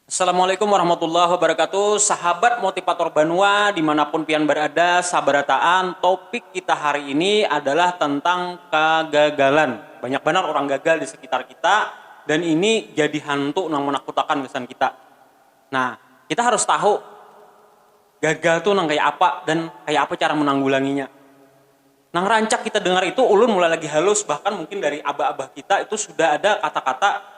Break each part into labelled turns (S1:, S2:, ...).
S1: Assalamualaikum warahmatullahi wabarakatuh Sahabat Motivator Banua dimanapun pian berada sabarataan topik kita hari ini adalah tentang kagagalan banyak banar orang gagal di sekitar kita dan ini jadi hantu nang menakutakan gasan kita nah kita harus tahu gagal tu nang kaya apa dan kaya apa cara menanggulanginya nang rancak kita dengar itu ulun mulai lagi halus bahkan mungkin dari abah-abah kita itu sudah ada kata-kata.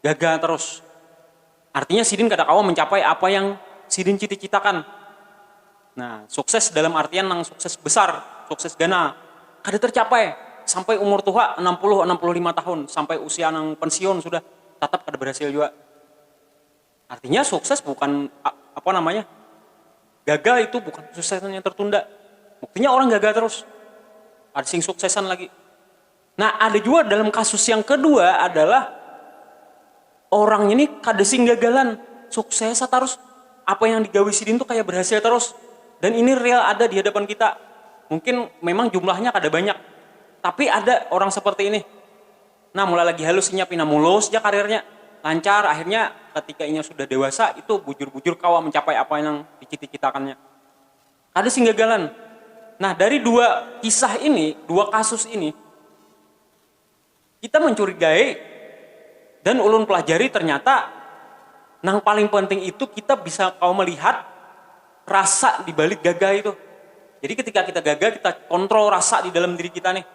S1: gagal terus. Artinya sidin kada kawa mencapai apa yang sidin cita-citakan. Nah, sukses dalam artian nang sukses besar, sukses ganal, kada tercapai. Sampai umur tuha, anam puluh, anam puluh lima tahun, sampai usia nang pensiun sudah, tatap kada berhasil jua. Artinya sukses bukan apa namanya, gagal itu bukan kesuksesan yang tertunda. Buktinya orang gagal terus, ada sing suksesan lagi. Nah ada jua dalam kasus yang kedua adalah orang ini kada sing gagalan, suksesa tarus, apa yang digawi sidin tu kaya berhasil tarus dan ini real ada dihadapan kita, mungkin memang jumlahnya kada banyak tapi ada orang seperti ini, nah mulai lagi halus inya pina mulus ja karirnya, lancar akhirnya ketika inya sudah dewasa itu bujur-bujur kawa mencapai apa nang dicita-citakannya. Kada sing gagalan. Nah, dari dua kisah ini, dua kasus ini, kita mencurigai dan ulun pelajari ternyata nang paling penting itu kita bisa kawa melihat rasa di balik gagah itu. Jadi ketika kita gagah kita kontrol rasa di dalam diri kita nih.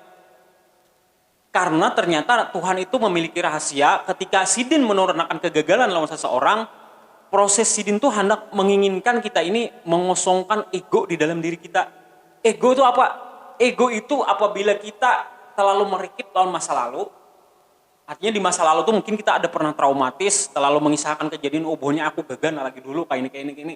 S1: Karna ternyata Tuhan itu memiliki rahasia, ketika Sidin menurnakan kegagalan lawan seseorang, proses Sidin tu handak menginginkan kita ini mengosongkan ego di dalam diri kita. Ego tu apa? Ego itu apabila kita terlalu merikit lawan masa lalu, artinya di masa lalu tu mungkin kita ada pernah traumatis, terlalu mengisahkan kejadian, oh buhannya aku gaga nah lagi dulu kaini kaini kaini,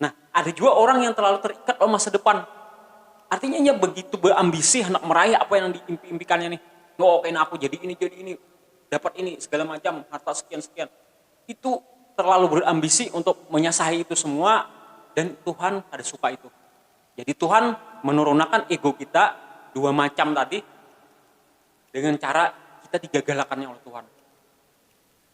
S1: Nah, ada jua orang yang terlalu terikat lawan masa depan. Artinya inya begitu beambisi handak meraih apa yang diimpi-impikannya nih. Oh, kena aku jadi ini, jadi ini, dapat ini, segala macam, harta sekian, sekian. Itu terlalu berambisi untuk menyasahi itu semua dan Tuhan kada suka itu. Jadi Tuhan menurunakan ego kita dua macam tadi dengan cara kita digagalakannya oleh Tuhan.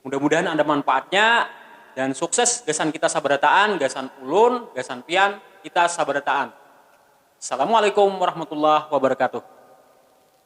S1: Mudah-mudahan ada manpaatnya dan sukses gasan kita sabarataan, gasan ulun, gasan pian, kita sabarataan. Assalamualaikum warahmatullahi wabarakatuh.